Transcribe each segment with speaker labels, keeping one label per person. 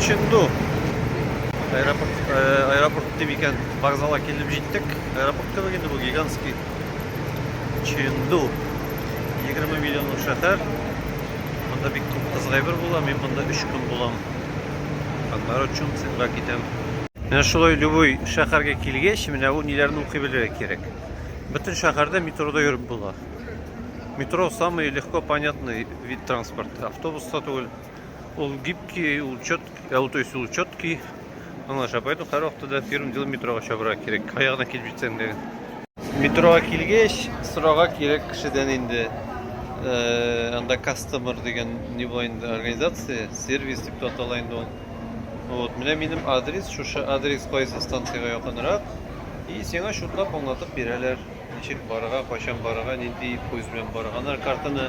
Speaker 1: Чинду. Аэропорт, э, аэропорт дип икән, вокзалга килеп җиттек. Аэропорт түгел инде бу гигантский. Чинду. 20 миллионлык шәһәр. Монда бик күп кызгайбер була. Мин монда 3 көн булам. Аннары Чунцинга китәм. Менә шулай любой шәһәргә килгәч, менә ул ниләрне укый белергә кирәк. Бөтен шәһәрдә метрода йөреп була. Метро самый легко понятный вид транспорта. Автобуста түгел, Ул гибкий, ул четкий, ә ул то есть ул четкий. Аңлаша, поэтому һәр вакытта да первым делом метрога чабырга кирәк. Аягына килеп җитсәң дә. Метрога килгәч, сорага кирәк кешедән инде. Э, анда кастомер дигән не була инде организация, сервис дип атала инде ул. Вот, менә минем адрес, шушы адрес кайсы станциягә якынрак. И сиңа шутлап аңлатып бирәләр. Ничек барырга, кайчан барырга, нинди поезд белән барырга. Картаны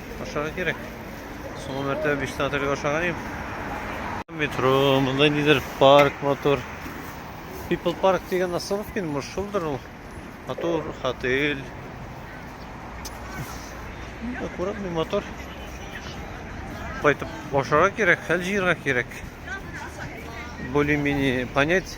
Speaker 1: ашарга кирәк. Соңгы мәртәбә биштә отельгә ашаган идем. Метро, монда нидер парк мотор. People Park дигән остановка инде, может, шулдыр ул. Мотор, отель. Аккуратный мотор. Кайтып ашарга кирәк, хәл җыярга кирәк. Более-менее понять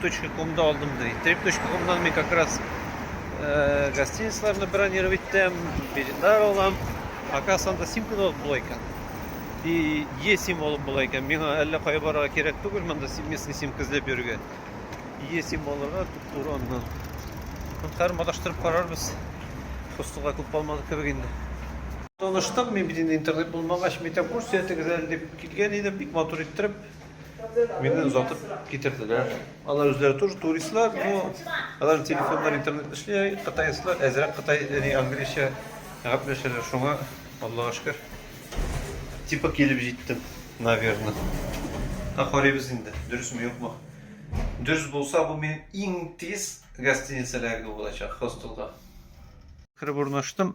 Speaker 1: trip.com-да алдым ди. Trip.com-дан мин как раз э, гостиницаларны бронировать итәм, билетлар алам. Оказывается, анда симка да була икән. И Е сим алып була икән. Миңа әллә кая барырга кирәк түгел, монда местный симка эзләп йөрергә. Е сим алырга туп-туры аннан. Хәтер маташтырып карарбыз. Хостелга күп калмады кебек инде. Таныштым, мин бит интернет булмагач, метакурс ятыгыз әле дип килгән идем, бик матур иттереп, Мине озатып китерделәр. Алар үзләре тоже туристлар, но алар телефоннар интернет эшли, кытайсызлар, әзрәк кытай, яни английча гәпләшәләр. Шуңа Аллага шөкер. Типа килеп җиттем, наверное. Ә карыйбыз инде, дөресме юкмы? Дөрес булса, бу минем иң тиз гостиница эләгү булачак хостелга. Кереп урнаштым.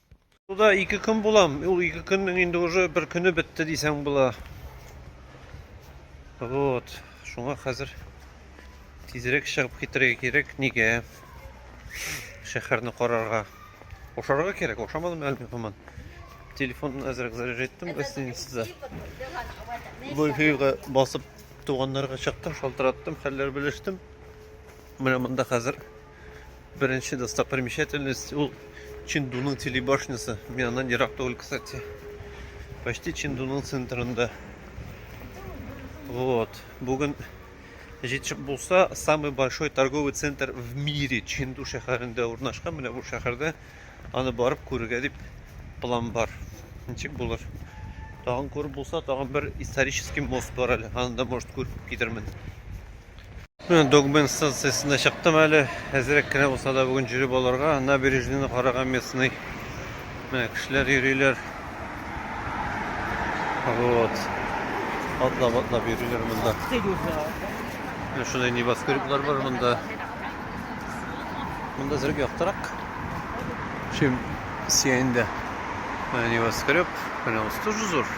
Speaker 1: Туда ике көн булам. Ул ике көннең инде уже бер көне бетте дисәң була. Вот. Шуңа хәзер тизрәк чыгып китәргә кирәк. Нигә? Шәһәрне карарга. Ошарга кирәк. Ошамадым әле һаман. Телефон әзрәк заряд иттем гостиницада. Wi-Fi-га басып туганнарга чыктым, шалтыраттым, хәлләр белештем. Менә монда хәзер Беренче достопримечательность ул Чиндуның телебашнясы. Мин аннан ерак түгел, кстати. Почти Чиндуның центрында. Вот. Бүген җитешеп булса, самый большой торговый центр в мире Чинду шәһәрендә урнашкан. Менә бу шәһәрдә аны барып күрергә дип план бар. Ничек булыр? Тагын күреп булса, тагын бер исторический мост бар әле. Аны да, может, күреп китермен. Менә Догмен станциясенә чыктым әле. Әзрәк кенә булса да бүген җөреп алырга. Набережныйны карага местный. Менә кешеләр йөриләр. Вот. Атлап-атлап йөриләр монда. Менә шундай небоскреблар бар монда. Монда зрек яктырак. Чем Сиэнда. Менә небоскреб. Менә ус тоже зур.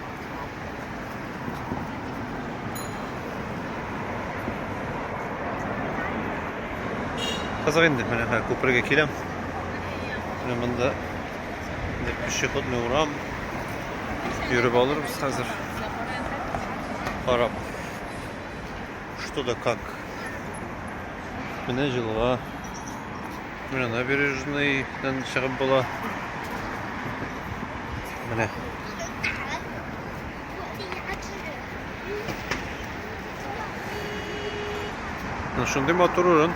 Speaker 1: Кызык инде, менә хәзер күпергә киләм. Менә монда инде пешеходный урам. Йөреп алырбыз хәзер. Карап. Что да как. Менә җылга Менә набережныйдан чыгып була. Менә. Ну, шундый матур урын.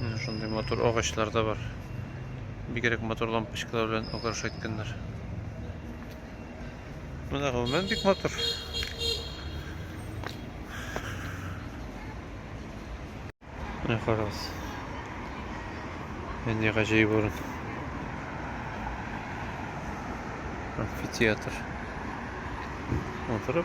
Speaker 1: Менә шундый матур агачлар да бар. Бигрәк матур лампочкалар белән украшать иткәннәр. Менә гомумән бик матур. Менә карагыз. Менә гаҗәеп урын. Амфитеатр. Матур.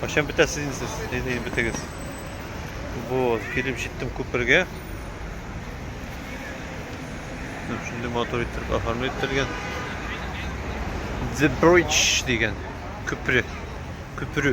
Speaker 1: Кайчан бетәсез инде сез? Әйдә бетегез. Вот, килеп җиттем күпергә. Менә шундый матур итеп оформлы ителгән. The Bridge дигән күпер. Күпер.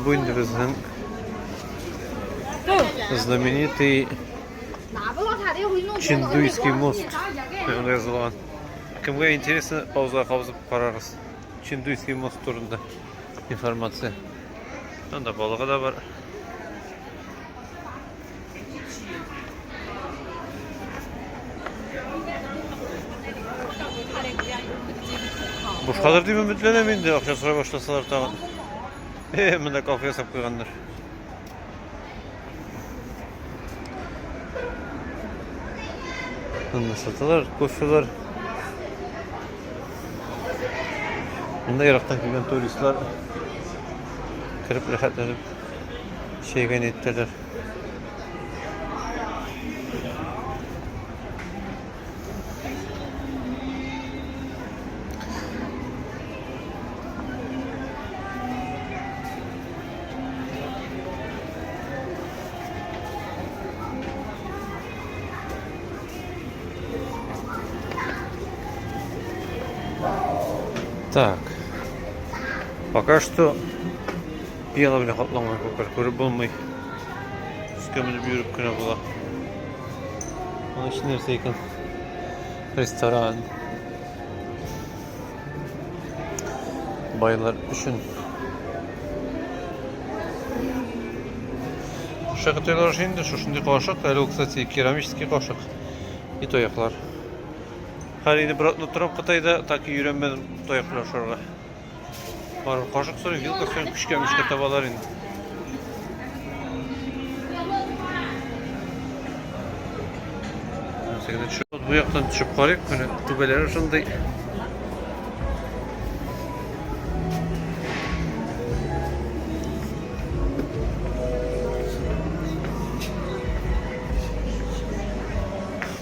Speaker 1: Бу инде безнең знаменитый Чиндуйский мост. Анда язылган. Кемгә интересно, пауза кабызып карагыз. Чиндуйский мост турында информация. Анда балыгы да бар. Бушкадыр дип өметләнәм инде, акча сорай башласалар тагын. Э, монда кафе ясап куйганнар. Монда саталар, кофелар. Монда ерактан килгән туристлар кереп рәхәтләнеп чәйгә ниеттәләр. так пока что Пиала белән капланган күпер күреп булмый. Өскә менеп йөреп кенә була. Аның эче нәрсә икән? Ресторан. Байлар өчен. Шакатайлар өчен инде шушындый кашык. Әле ул, кстати, керамический кашык. И тояклар. Хәлине братны торам Кытайда, так и йөрәмәдем тояк белән шарга. Бар, кашык сорый, вилка сорый, көчкә мөчкә табалар инде. Сәгәдә төшеп, бу яктан төшеп карыйк, менә түбәләре шундый.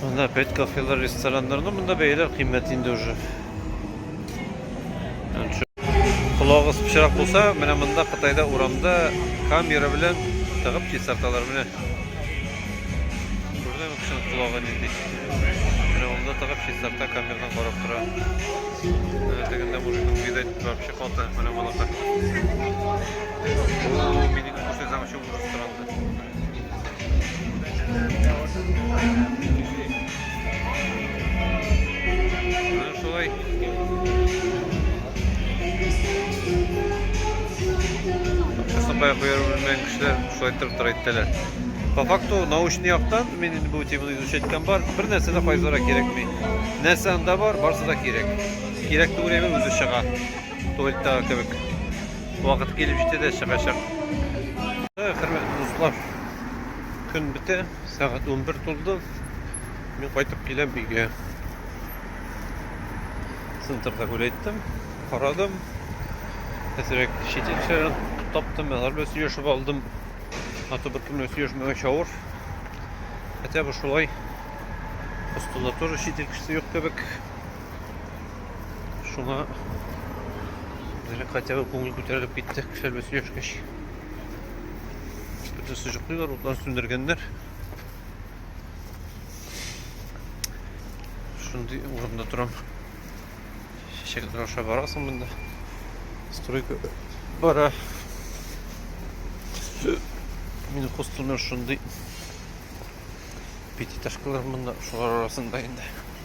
Speaker 1: Монда опять кафелар, рестораннар, ну монда бәяләр кыйммәт инде уже. Колагыз пычрак булса, менә монда Кытайда урамда камера белән тыгып чистарталар менә. Күрдеңме кешенең колагы нинди? Менә монда тыгып чистарта камерадан карап тора. Менә тегендә мужикның видать вообще калты, менә балака. Минем кушай замчу ужас торам. Сапай куяры белмәгән кешеләр шулай торып тора әйтәләр. По факту научный яктан мин инде бу теманы изучать иткән бар. Бер нәрсә дә кайзара кирәкми. Нәрсә анда бар, барсы да кирәк. Кирәк түгел, үзе чыга. Туалетта кебек. Вакыт килеп җитте дә чыгачак. Хөрмәтле дуслар, көн бетә, сәгать 11 тулды. Мин кайтып киләм бигә. Центрда күләйттем, карадым. Әзрәк шитенчә таптым, алар белән сөйләшеп алдым. Аты бер кемне сөйләшмәгән чавыр. Хотя бы шулай. Постулатура шитен кешесе юк кебек. Шуңа Дәлек хотя бы күңел күтәрелеп китте, кешеләр белән сөйләшкәч. Бөтен сыжыклыйлар, утлар сүндергәннәр. Шундый урында торам. Чәчәкләр аша барасың монда. Стройка бара. Мин хостелнер шундый пятиэтажкалар монда, шулар арасында инде.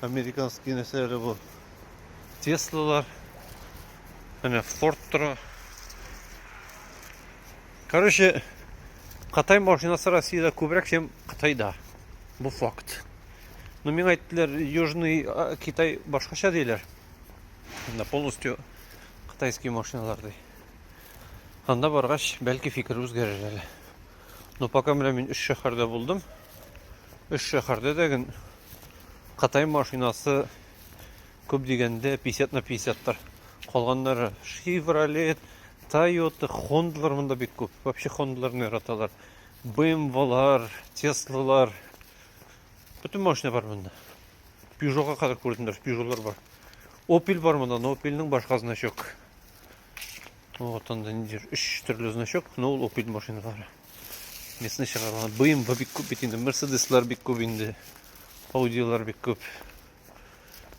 Speaker 1: Американский нәрсәләре бу. Теслалар. Әнә Форд тора. Короче, Кытай машинасы Россиядә күбрәк, чем Кытайда. Бу факт. Но ну, миңа әйттеләр, Южный а, Китай башкача диләр. Анда полностью кытайский машиналар ди. Анда баргач, бәлки фикер үзгәрер әле. Но пока менә мин өч шәһәрдә булдым. Өч шәһәрдә дә ген Кытай машинасы күп дигәндә 50 на 50 тар. Калганнары Chevrolet, Toyota, Honda-лар монда бик күп. Вообще Honda-ларны яраталар. BMW-лар, Tesla-лар. Бөтен машина бар монда. Peugeot-га кадәр күрдем, даже Peugeot-лар бар. Opel бар монда, но Opel-ның башка значок. Вот он, ниндидер үш төрле значок, но ул опель машиналары. Местный чыгарган. БМВ бик күп бит инде, Мерседеслар бик күп инде. Аудилар бик күп.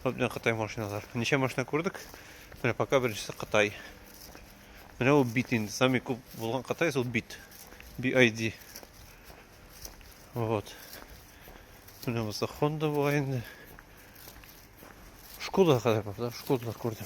Speaker 1: Вот менә Кытай машиналар. Ничә машина күрдек? Менә пока беренчесе Кытай. Менә ул бит инде. Сами күп булган Кытай ул бит. BID. Вот. Менә булса Honda була инде. Шкода кадәр бар, да? Шкодалар күрдем.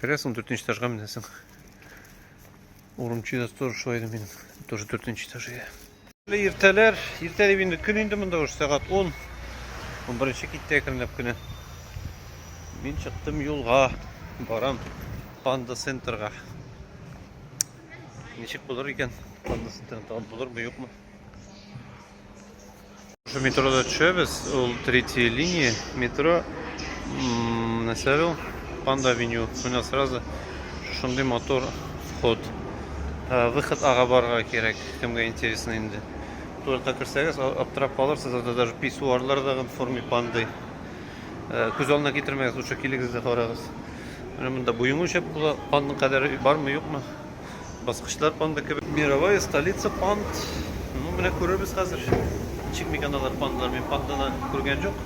Speaker 1: Керәсең, ундүртенче этажга менәсең. Урынчы да тоже шулай идем мин. Тоже дүртенче этаж иде. Иртәләр, иртә дип инде көн инде монда уже сәгать 10. 11-нче китте әкренләп кенә. Мин чыктым юлга, барам Панда центрга. Ничек булыр икән? Панда центрында булырмы, юкмы? Шул метрода төшәбез, ул третья линия метро, нәрсә ул? Панда Веню, менә сразу шундый мотор ход. Э, выход ага барырга кирәк, кемгә интересно инде. Туалетка керсәгез, аптырап калырсыз, анда даже писсуарлар да в форме панды. Э, күз алдына китермәгез, лучше килегез дә карагыз. Менә монда буең үлчәп була, пандның кадәре бармы, юкмы? Баскычлар панда кебек. Мировая столица панд. Ну, менә күрербез хәзер. Ничек микән алар пандалар? Мин панданы күргән җук.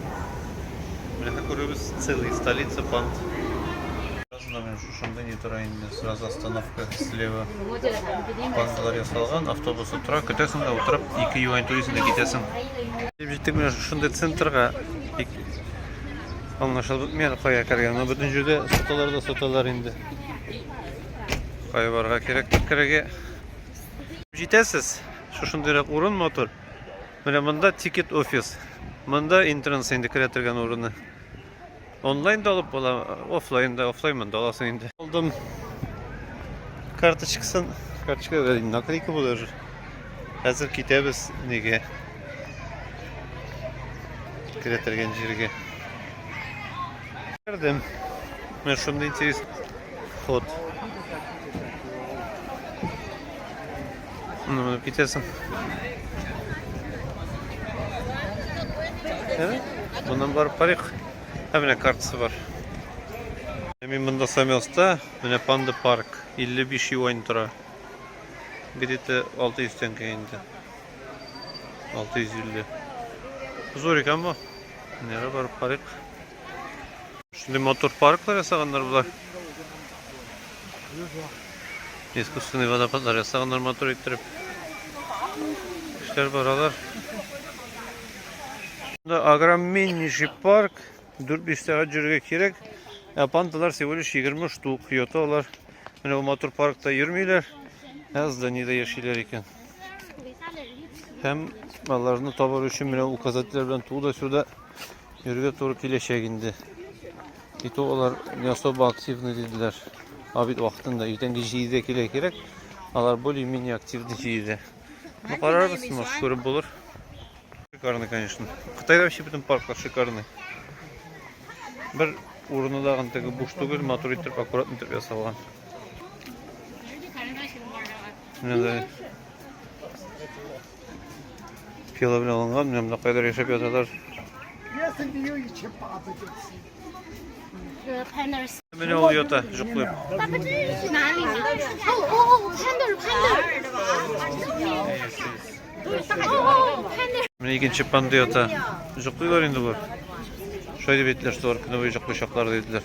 Speaker 1: Менә күрербез целый столица панд. Сразу мен шушында не тора инде. Сразу остановка слева. Пандалар ясалган, автобус утыра. Көтәсең дә утырып, 2 юань туризм дә китәсең. Дип җиттек менә шушында центрга. Бик аңлашылып бетмәгән кая кергән. Бөтен җирдә саталар да саталар инде. Кая барырга кирәк керергә? Җитәсез. Шушындыйрак урын мотор. Менә монда тикет офис. Монда интернет инде керә торган урыны. Онлайн да алып була, офлайн да, офлайн монда аласың инде. Алдым карточкасын, карточка наклейка булыр. Хәзер китәбез неге? Керә торган җиргә. Кердем. Менә шундый интерес ход. Ну, менеп китәсең. Моннан барып карыйк. Ә менә картасы бар. Мин монда Самелста, менә Панда парк 55 юань тора. Где-то 600 тенге инде. 650. Зурик амбо. Нәре барып карыйк. Шундый мотор парклар ясаганнар болар. Искусственный водопадлар ясаганнар мотор иттереп. Эшләр баралар. Монда огромнейший парк. 4-5 сәгать йөрергә кирәк. Ә пандалар всего лишь 20 штук йота алар. Менә мотор паркта йөрмиләр. Ә зданиедә яшиләр икән. Һәм аларны табар өчен менә указательләр белән туда-сюда Йөрергә туры киләчәк инде. И то алар не особо активны диделәр. А бит вакытында иртәнге җиде килә кирәк. Алар более-менее активны җиде. Ну, карарбыз, может, күреп булыр. Шикарный, конечно. Кытайда вообще бөтен парклар шикарный. Бер урыны да антеге буш түгел, матур итеп, аккуратно итеп ясалган. Менә Пила белән алынган, менә монда кайдыр яшәп яталар. Менә ул ята, җоклый. Менә икенче панда ята. Җоклыйлар инде болар. Шулай дип әйттеләр, что алар көне буе җоклыйчаклар диделәр.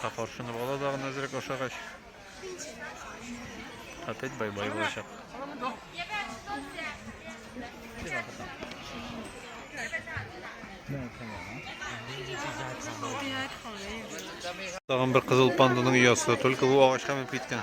Speaker 1: Ка каршыны бала да гына әзрәк ашагач. Опять бай-бай булачак. Тагын бер кызыл панданың оясы. Только бу агачка менеп киткән.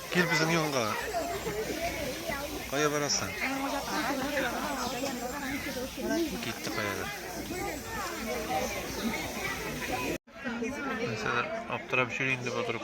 Speaker 1: Кил безнең янга. Кая барасың? Китте каядыр. Нәрсәдер аптырап йөри инде бу друг.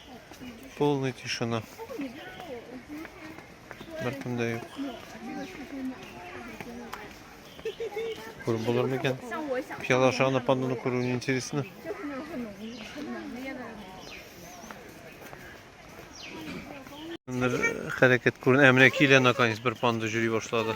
Speaker 1: Полный тишина. Бертем дә юк. Күреп булыр микән? Пияла аша анапанданы күрү не интересно. Бер хәрәкәт күренә. Ә менә килә наконец бер панда җөри башлады.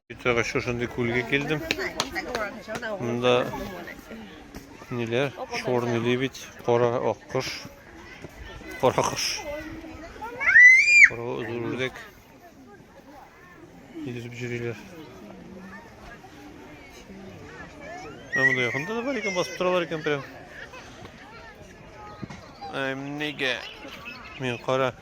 Speaker 1: Тагы шушындый күлгә килдем. Монда ниләр? Чорный лебедь, кара аккош, кара кош. Кара зур үрдәк. Йөзеп йөриләр. Менә монда якында да бар икән, басып торалар икән прям. Әм, нигә? Мин кара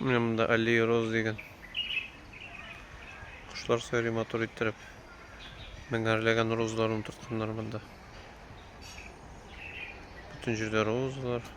Speaker 1: Менә монда аллея роз дигән. Кошлар сайрый матур иттереп. Меңәрләгән розларын утыртканнар монда. Бөтен җирдә розалар.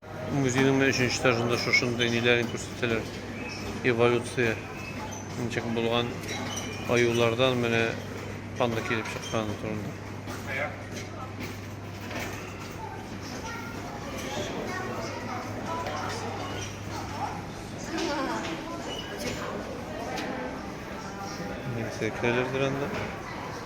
Speaker 1: Музейның менә өченче этажында шушындый ниләрен күрсәтәләр. Эволюция ничек булган аюлардан менә панда килеп чыкканы турында. Нәксә керәләрдер анда.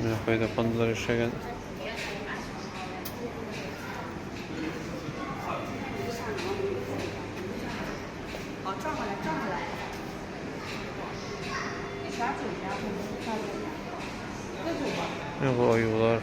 Speaker 1: Менә кайда пандалар яшәгән. Менә бу аюлар.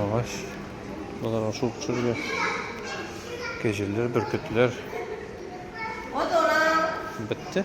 Speaker 1: Агач. Балар ашыл кушырга. Кәҗәләр, бөркетләр. Бетте.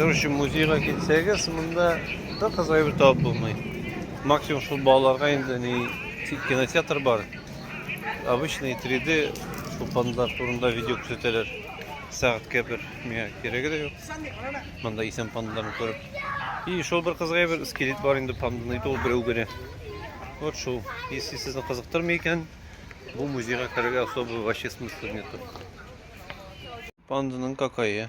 Speaker 1: Короче, музейга китсәгез, монда да кызык әйбер табып булмый. Максимум шул балаларга инде ни кинотеатр бар. Обычный 3D тупандар турында видео күрсәтәләр. Сәгатькә бер миңа кирәге дә юк. Монда исән пандаларны күреп. И шул бер кызык әйбер скелет бар инде панданы итү берәү генә. Вот шул. Если сезне кызыктырмый икән, бу музейга керергә особо вообще смысла нету. Панданың какая?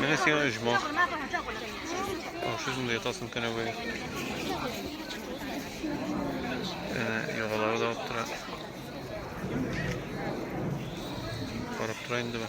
Speaker 1: Менә сиңа оҗмах. Ашы шунда ятасың кенә бай. Әнә ягалары да алып тора. Карап тора инде бу.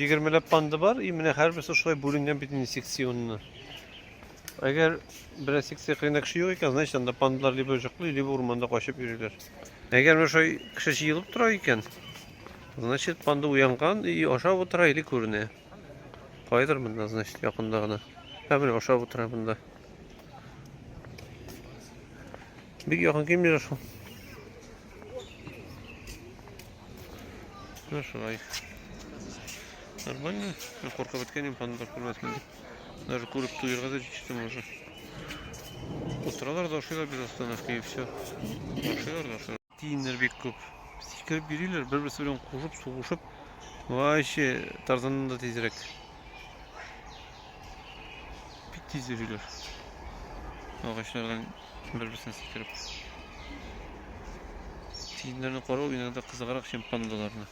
Speaker 1: Егермеләп панда бар, и менә һәрберсе шулай бүленгән бит инде секционны. Әгәр берәр секция кырында кеше юк икән, значит анда пандалар либо җыклый, либо урманда качып йөриләр. Әгәр менә шулай кеше җыелып тора икән, значит панда уянган и ашап утыра или күренә. Кайдыр монда, значит, якында гына. Һәм менә ашап утыра монда. Бик якын килмиләр шул. Ну шулай. Нормально. Ну, коркып беткәнем ханымдар күрмәсен дип. Даже күреп туйырга да җитештем уже. Утыралар да ашыйлар без остановка и все. Ашыйлар да ашыйлар. Тиеннәр бик күп. Сикереп бириләр, бер-берсе белән кушып, сугышып. Вообще Тарзаннан да тизрәк. Бик тиз йөриләр. Агачлардан Бер-берсенә сикереп. Тиеннәрне карау иногда кызыграк, чем пандаларны.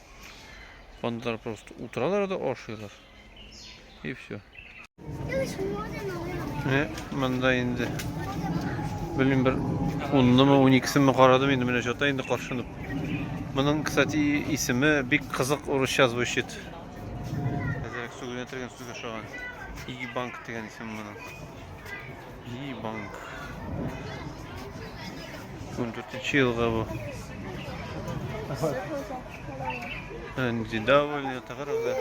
Speaker 1: Пандалар просто утыралар да ашыйлар. И все. Менә монда инде. Белмим бер 10-нымы, 12-семе карадым инде менә җата инде каршынып. Моның, кстати, исеме бик кызык урысча звучит. Әзерәк сүгенә тергән сүзгә шаган. Иги банк дигән исем моның. Җи банк. 14 елга бу. Энди давыль ята карагы.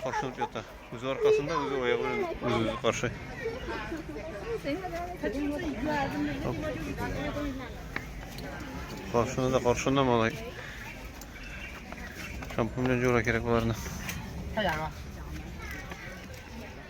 Speaker 1: Каршылып ята. Үзе аркасында, үзе аягы белән үзе каршы. Каршына да каршына малай. Шампунь белән җура кирәк боларны.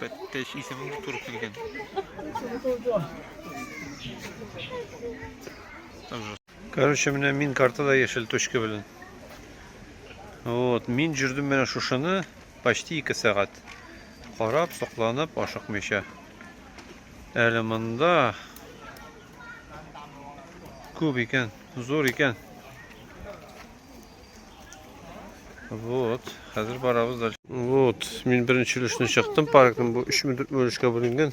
Speaker 1: Бәттәй исем туры килгән. Короче, менә мин картада яшел точка белән. Вот, мин жүрдем менә шушыны почти 2 сәгать. Карап, сокланып, ашыкмыйча. Әле монда күп икән, зур икән. Вот, хәзер барабыз дальше. Вот, мин беренче өлешне чыктым, паркның бу 3 мөддәт өлешкә бүленгән.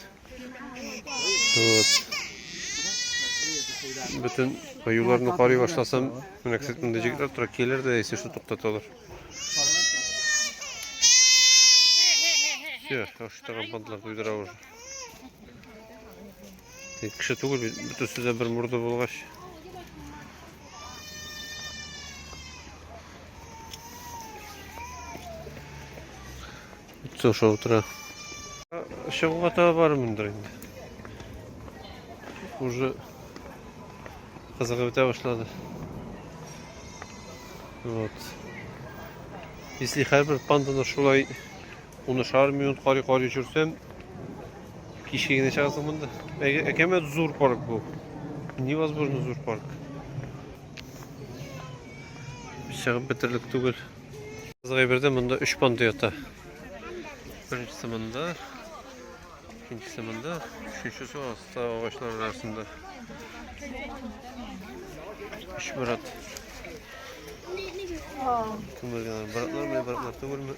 Speaker 1: Вот. Бөтен аюларны карый башласам, менә кисәт монда җигетләр тора, килер дә яисә шул туктаталар. Все, таштаган бантлар туйдыра уже. Кеше түгел бит, бөтенесе дә бер морда булгач. Бөтенесе аша утыра. Чыгуга тагы бармындыр инде. Уже кызыгып бетә башлады. Вот. Если һәрбер панданы шулай Унышар минут карый карый жүрсем, кичке генә чыгасың монда. Әкәмәт зур парк бу. Невозможно зур парк. Чыгып бетерлек түгел. Гайбердә монда 3 панда ята. Беренчесе монда, икенчесе монда, өченчесе аста агачлар арасында. Үч брат. Күмелгән братлар, менә братлар түгелме?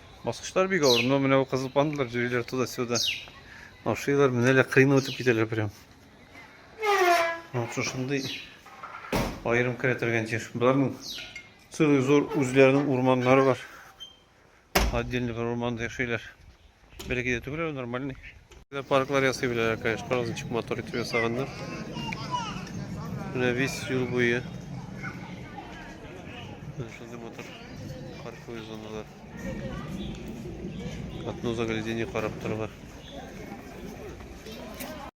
Speaker 1: Баскычлар бик авыр. Но менә бу кызыл пандалар йөриләр туда-сюда. Ашыйлар, менә лә кыйны үтеп китәләр прям. Вот шушындый аерым керәтергән җир. Боларның целый зур үзләренең урманнары бар. Отдельный бер урманда яшиләр. Бәләкәй дә түгел, нормальный. Парклар ясый беләләр, конечно, различных мотор итеп ясаганнар. Менә весь юл буе. Шундый мотор парковый зоналар. Катну заглядение карап торырга.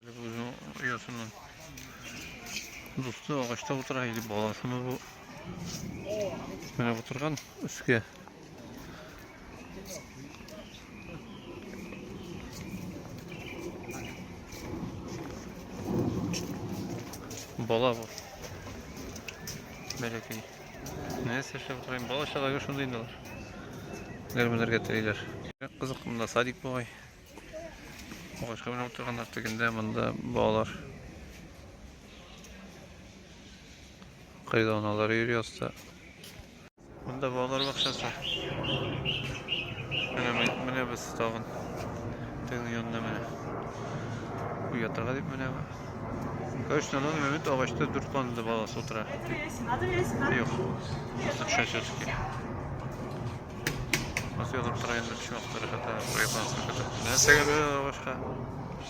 Speaker 1: Үзенең оясыннан дусты агачта утыра или баласымы бу? Менә утырган өскә. Бала бу. Бәләкәй. Нәрсә эшләп утырайым? Бала чалага шундый инде алар. Нәрмәләргә телиләр. Кызык монда садик бугай. Агачка менеп утырганнар тегендә монда балалар. Кайда аналар йөри аста. Монда балалар бакчасы. Менә менә без тагын тегенең янына менә. Уятырга дип менә. Короче, на данный момент агачта дүрт панда баласы утыра. Юк. Просто төшә все-таки. Басыйлар тора инде чуактары хәтта проектларсы хәтта. Нәрсәгә бер агачка?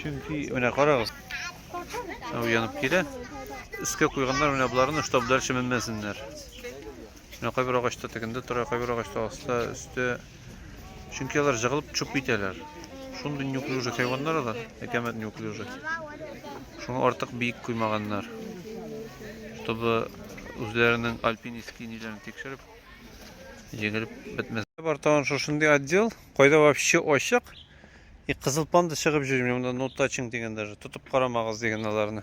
Speaker 1: Чөнки менә карагыз. Ау янып килә. Искә куйганнар менә боларны, чтобы дальше менмәсеннәр. Менә кайбер агачта тегендә тора, кайбер агачта аста, өстә. Чөнки алар җыгылып чүп китәләр. Шундый неуклюжий хайваннар алар, әкәмәт неуклюжий. Шуны артык биек куймаганнар. Чтобы үзләренең альпинистский ниләрен тикшереп, җигелеп бетмәс. Бар тагын шушындый отдел, кайда вообще ачык. И кызыл панда чыгып йөрим, монда no touching дигән даже, тотып карамагыз дигән аларны.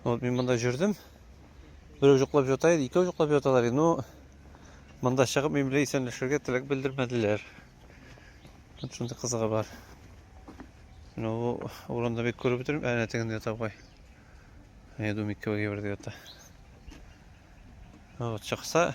Speaker 1: Вот мин монда йөрдем. Берәү җоклап ята иде, икәү җоклап яталар иде. Ну, монда чыгып мин белән исәнләшергә теләк белдермәделәр. Вот шундый кызыгы бар. Ну, урында бик күреп бетерим, әнә тегендә ята бугай. Я думаю, икәүгә бер ята. Вот чыкса,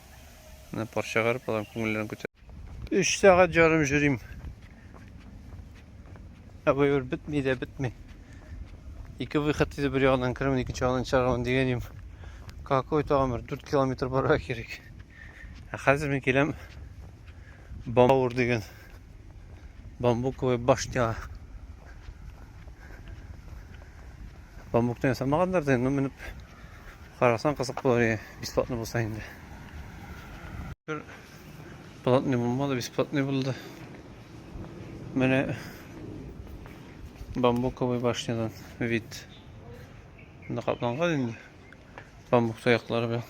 Speaker 1: Менә пар чыгарып алам, күңелләрен күтәрәм. 3 сәгать ярым йөрим. Ә бу юр бетми дә бетми. Ике выход иде бер ягыннан керәм, икенче ягыннан чыгарам дигәнем. Какой тагын бер 4 километр барырга кирәк. Ә хәзер мин киләм Бамбур дигән бамбуковая башня. Бамбуктан ясамаганнар да, но менеп Карасаң кызык булыр иде, бесплатный булса инде. Бер платный булмады, бесплатный булды. Менә бамбуковый башнядан вид. Монда капланган инде. Бамбук таяклары белән.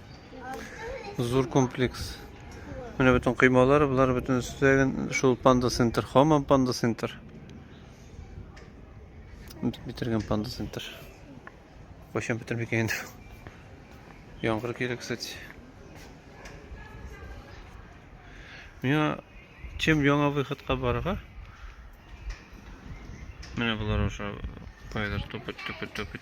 Speaker 1: Зур комплекс. Менә бөтен коймалар, болар бөтен өстәген шул панда центр, хамам панда центр. Битергән панда центр. Кайчан бетермик инде. Яңгыр килә, кстати. Миңа чем яңа выходка барырга? Менә болар уже кайдыр тупыт тупыт тупыт.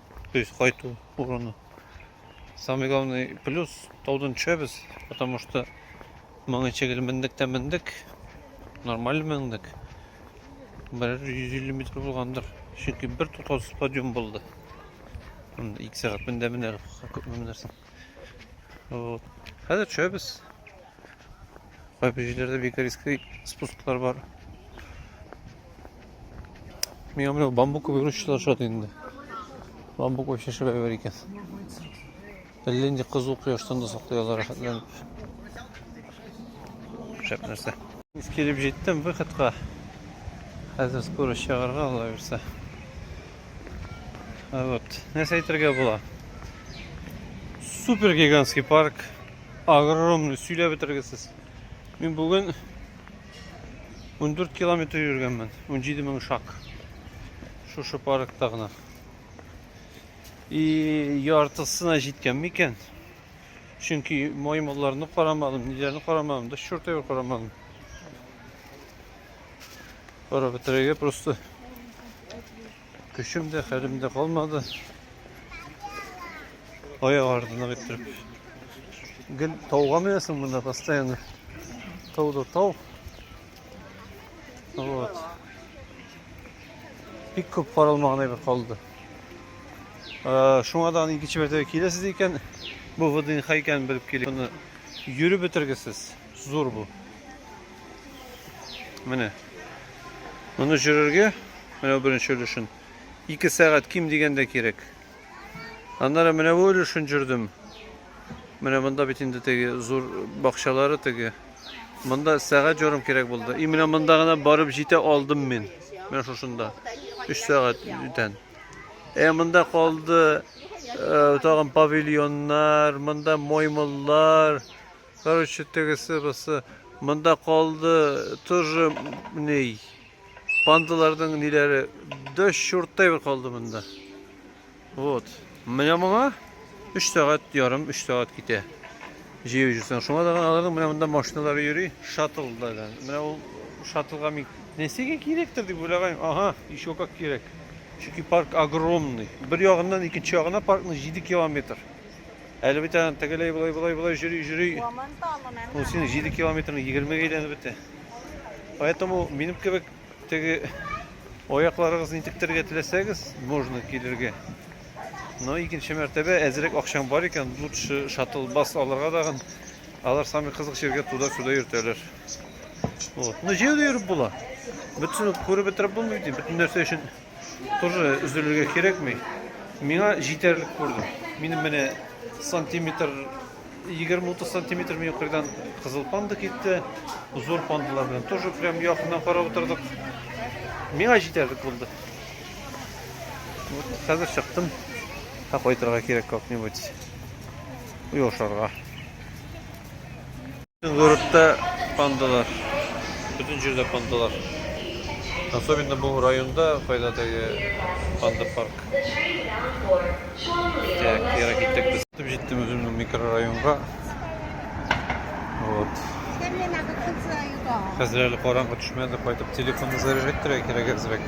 Speaker 1: то есть кайту урыны самый главный плюс таудан төшәбез потому что моңа шикелле мендек тә мендек нормаль мендек бер йөз илле метр булгандыр чөнки бер туктаусыз подъем булды ике сәгать мендә менә күп менәрсең Вот. Хәзер төшәбез. Кайбер җирләрдә бик рискле спусклар бар. Миңа менә бамбук күбегрүчеләр шат инде. Бамбук вообще шәбәй бар икән. Әллә инде кызу кояштан да саклый алар рәхәтләнеп. Шәп нәрсә. Килеп җиттем выходка. Хәзер скорость чыгарга ала бирсә. Вот. Нәрсә әйтергә була? Супер гигантский парк. Огромный. Сөйләп бетергесез. Мин бүген 14 километр йөргәнмен. 17 мең шаг. Шушы паркта гына. И яртысына җиткән микән? Чөнки маймылларны карамадым, ниләрне карамадым, да чуртәвер карамадым. Барып бетерергә просто. Көчем дә, хәлем дә калмады. Аяк артына китереп. Гел тауга менәсең монда постоянно. Тау да тау. Вот. Бик күп каралмаган әйбер калды. Э, Шуңа да икенче мәртәбә киләсез икән, бу ВДНХ икәнен белеп килик. Моны йөреп бетергесез. Зур бу. Менә. Моны җөрергә, менә беренче өлешен, 2 сәгать ким дигәндә кирәк. Аннары менә бу өлешен җөрдем. Менә монда бит инде теге зур бакчалары теге. Монда сәгать ярым кирәк булды. И менә монда гына барып җитә алдым мин. Менә шушында. 3 сәгать бүтән. Ә монда калды э, тагын павильоннар, монда маймыллар, Короче, тегесе бусы монда калды, тоже ни пандаларның ниләре дө чурттай бер калды монда. Вот. Менә моңа 3 сәгать ярым, 3 сәгать китә. Җыю җусаң. Шуңа да аларның менә монда машиналары йөри, шаттллардан. Менә ул шаттлга мин нәрсәгә кирәктер дип уйлаган. Ага, еще как кирәк. Чөнки парк огромный. Бер ягыннан икенче ягына паркның 7 километр. Әле бит аны тегеләй болай болай болай җөри җөри. Ул син 7 километрны 20 гә әйләнеп бетте. Поэтому минем кебек теге аякларыгыз нитектергә теләсәгез, можно килергә. Но икенче мәртәбә әзрәк акчаң бар икән, лучше шаттл бас алырга дагын. Алар самый кызык җиргә туда-сюда йөртәләр. Вот. Но җәяү дә йөреп була. Бөтенсен күреп бетереп булмый бит. Бөтен нәрсә өчен Тоже өзелергә кирәкми. Миңа җитәрлек күрдем. Минем менә сантиметр 20-30 сантиметр мин кырдан кызыл панда китте. Зур пандалар белән тоже прям якыннан карап утырдык. Миңа җитәрлек булды. Вот хәзер чыктым. Һәм кайтырга кирәк как-нибудь. Уяушарга. Городта пандалар. Бөтен җирдә пандалар. Особенно бу районда кайда теге панда парк. Так, кире киттек без. Китеп җиттем үземнең микрорайонга. Вот. Хәзер әле караңгы төшмәде, кайтып телефонны заряжать итәргә кирәк әзрәк.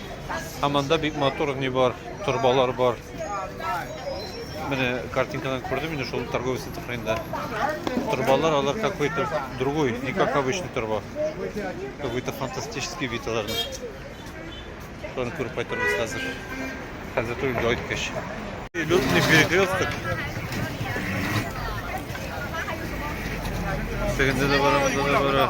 Speaker 1: Һәм анда бик матур ни бар, торбалар бар. Менә картинкадан күрдем инде шул торговый центр хәлендә. Торбалар алар какой-то другой, не как обычный торба. Какой-то фантастический вид аларның. Шуны күреп кайтырбыз хәзер. Хәзер түгел, дойткәч. Лютный перекресток. Сегендә дә барабыз, да бара.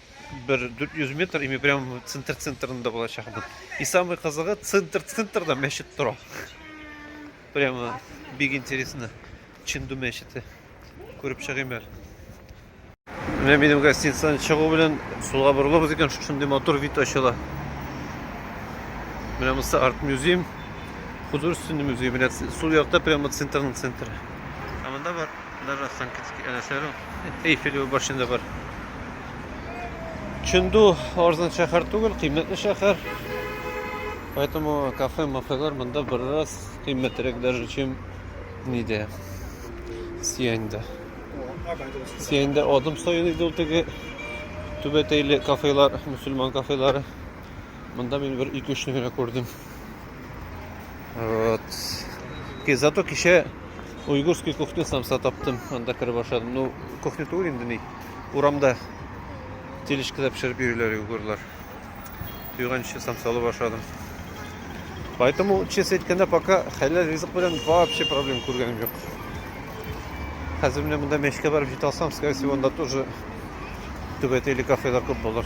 Speaker 1: бер 400 метр ими прям центр центрында булачакмын и самый кызыгы центр центрда мәчет тора прямо бик интересно чинду мәчете күреп чыгыйм әле менә минем гостиницадан чыгу белән сулга борылабыз икән шушындый матур вид ачыла менә монысы арт музей художественный музей менә сул якта прямо центрның центры ә монда бар Даже Санкт-Петербург, әнә сәлу. Эйфель башында бар. Чөнду арзан шәһәр түгел, кыйммәтле шәһәр. Поэтому кафе, мафелар монда бераз кыйммәтрәк даже, чем нидә. Сияньдә. Сияньдә адым саен иде ул теге түбәтәйле кафелар, мусульман кафелары. Монда мин бер 2-3 генә күрдем. Вот. Зато кичә уйгурский кухня самса таптым. Анда кереп ашадым. Ну, кухня түгел инде ни. Урамда тележкада пешереп йөриләр уйгурлар. Туйганчы самсалы ашадым. Поэтому, честно әйткәндә, пока хәләл ризык белән вообще проблем күргәнем юк. Хәзер менә монда мәчкә барып җитә алсам, скорее всего, анда тоже түбәтәйле кафелар күп булыр.